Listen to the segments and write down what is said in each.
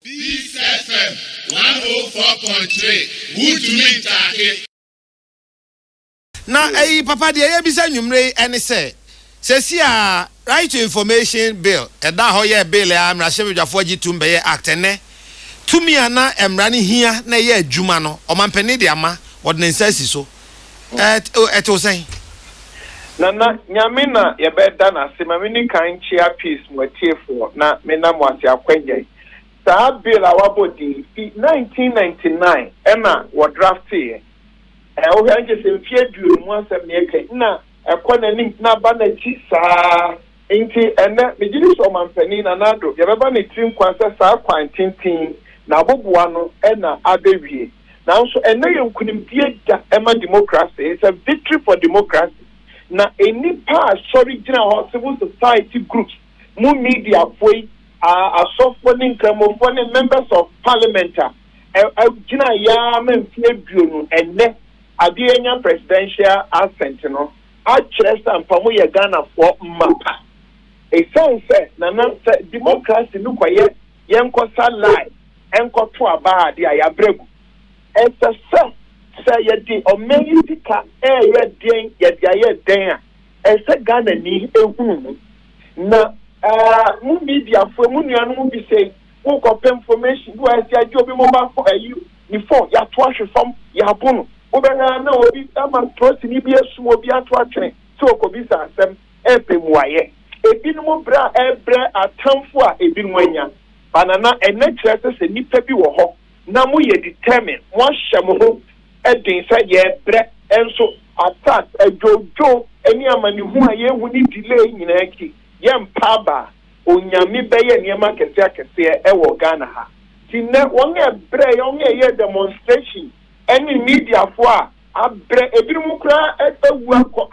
Peace FM one oh four point three wotumi ntaake. Na ɛyi papa deɛ yɛbisa nwummerɛ yi ɛne sɛ, sɛsi a Right to Information Bill ɛdaa hɔ yɛɛ bill a mmarahyɛbadwafoɔ gye tum bɛyɛɛ Act ɛnnɛ, tumi a na mmara no hia na ɛyɛ adwuma no ɔmampanin de ama, wɔde ne nsa asi so. Ɛɛ, ɛtew sɛn? Nana Nyame na yɛbɛda no ase ma meni kan nkyea peace mo atiefoɔ na mena mo ase akwannyɛe saa bill a wabɔ din yi fi 1999 ɛna wɔ drafteeɛ ɛɛ wohwɛ a nkyɛ sɛ mfeɛ aduonu asɛm na yɛka yi na ɛkɔ nanim na aba nakyi saa Enti ɛnnɛ, megye di sɛ Ɔmampanin Nana Addo deɛ ɛbɛba ne tiri nkwa sɛ saa kwan tenten na aboboa no na abɛwie. Nanso ɛnnɛ yɛ nkunimdie da ma demokrase, it's a victory for democracy, na nnipa a sɔre gyina hɔ, civil society groups, mo mediafoɔ yi, asɔfoɔ ne nkramofoɔ ne members of parliament a ɛgyinaeɛ ara ma mfeɛ aduonu, ɛnnɛ adeɛ yɛanya presidential assent no. akyerɛ sɛ ampa mo yɛ Ghanafoɔ mma pa. Ɛsiane sɛ Nana sɛ democracy no kɔyɛ yɛnkɔsa lie nkɔto aba adeɛ a, yɛabrɛ agu. Ɛsɛ sɛ sɛ yɛde ɔman yi sika reyɛ deɛn yɛde ayɛ dɛn a, ɛsɛ sɛ Ghanani hunu mu. Na mo mediafoɔ mu nuanom bi sei Wo kɔ pɛ information bi wɔ ɛsɛ agye obi mobile phone ayi ne phone yato ahwe fam yabo no wo bɛ hwɛ a na obi ama trosi ni bi asum obi ato atwene sɛ ɔkɔ bisa asɛm ɛpɛ muayɛ ebi nom brɛ a ɛbrɛ atanfo a ebi nom anya ba nana ɛnɛ kyerɛ sɛ sɛ nipa bi wɔ hɔ na mo yɛ determine mo ahyɛ mo ho den sɛ yɛ brɛ nso attack adwodwo ɛne amanehunu a yɛ hu ne delay nyinaa akyi yɛ mpa aba a. Onyame bɛyɛ nneɛma akɛseɛ akɛseɛ ɛwɔ Ghana ha nti nnɛ wɔn a ɛbrɛ yɛ wɔn a ɛyɛ demonstration ɛne media foɔ a abrɛ ebinom koraa awu akɔ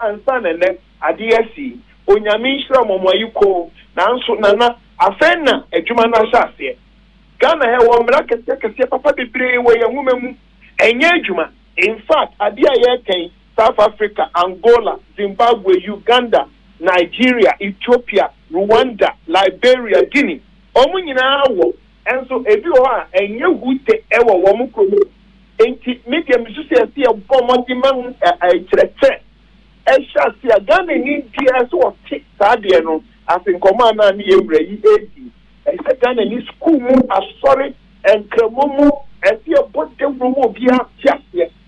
ansa na nnɛ adeɛ asi yi Onyame nhyira mo mo ayi koo nanso Nana afei na adwuma no ahyɛ aseɛ Ghana ha ɛwɔ mmara akɛseɛ akɛseɛ papa bebree wɔ yɛn nwoma mu ɛnyɛ adwuma infact adeɛ a yɛreka yi South Africa, Angola, Zimbabwe, Uganda, Nigeria, Ethiopia, Rwanda, Liberia, Guinea. Wɔn nyinaa wɔ, nso ebi wɔ hɔ a ɛnyɛ hu te wɔ wɔn kurom hɔ. Enti me deɛ mesu sɛ yɛsɛ yɛbɔ mmɔden ma hu nkyerɛkyerɛ ɛhyɛ ase a Ghanani deɛ ɛsɛ ɔte saa deɛ no ase. Nkɔmmɔ a na me yɛn wura yi redi, ɛsɛ sɛ Ghanani sukuu mu, asɔre, nkramo mu, ɛsɛ yɛbɔ dawuro ma obiara te aseɛ.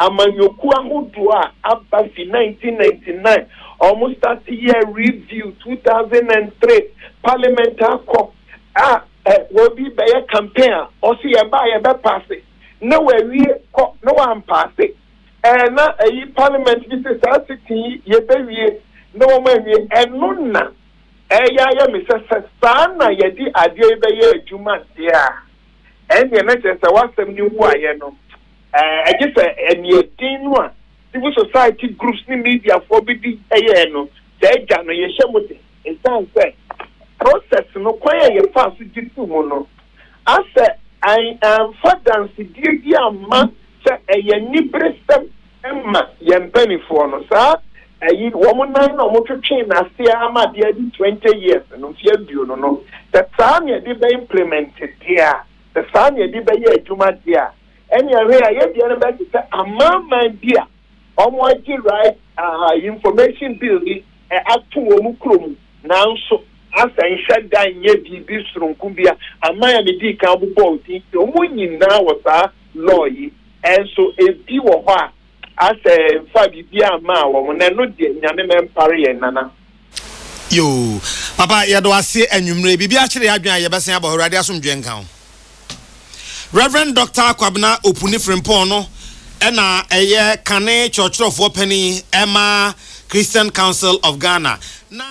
Amanyɔkuo ahodoɔ a aba fi nineteen ninety nine a wɔn start yɛɛ review two thousand and three parliament akɔ a obi bɛyɛ campaign a ɔse yɛba a yɛbɛ paase na wawie kɔ na wampaase ɛɛ na ayi parliament bi se saa sitting yi yɛbɛ wie na wɔn anwie ɛno na ɛyɛ ayɛ me sɛ sɛ saa na yɛde adeɛ yi bɛyɛ adwuma deɛ a ɛneɛ na kyerɛ sɛ wasɛm no wu ayɛ no Gye sɛ aniɛden no a civil society groups ne mediafoɔ bi di yɛɛ no saa gya no yɛhyɛ mu den. Ɛsiane sɛ process no kwan a yɛfaa so gye too mu no asɛ amfa dansedie bi amma sɛ ɛyɛ aniberesɛm ma yɛn mpaninfoɔ no. Saa ayi wɔn nan na wɔn twetwee no aseɛ ama adeɛ adi twenty years no, mfeɛ aduonu no, sɛ saa na yɛde bɛ implement deɛ a, sɛ saa na yɛde bɛyɛ adwuma deɛ a, Ɛnneɛ hwɛ a yɛn deɛ no bɛte sɛ amanaman bi a wɔagye right aha information bill bi ato wɔn kuro mu nanso asɛnhwɛ da nyɛ biribi sononko bi a aman a medii kan bobɔɔ din sɛ wɔn nyinaa wɔ saa law yi nso ebi wɔ hɔ a Asɛ nfa biribiaa mmaa wɔn na ɛno deɛ Nyame ma ɛmpare yɛn Nana. Yoo papa yɛda wo ase anwumerɛ biribi akyere yɛn adwene a yɛbɛsan aba hɔ awurade asomdwoeɛ nka wo Rev Doctor Kwabena Opuni Frimpong no na ɛyɛ kane kyerɛkyerɛfoɔ panin ɛma Christian Council of Ghana na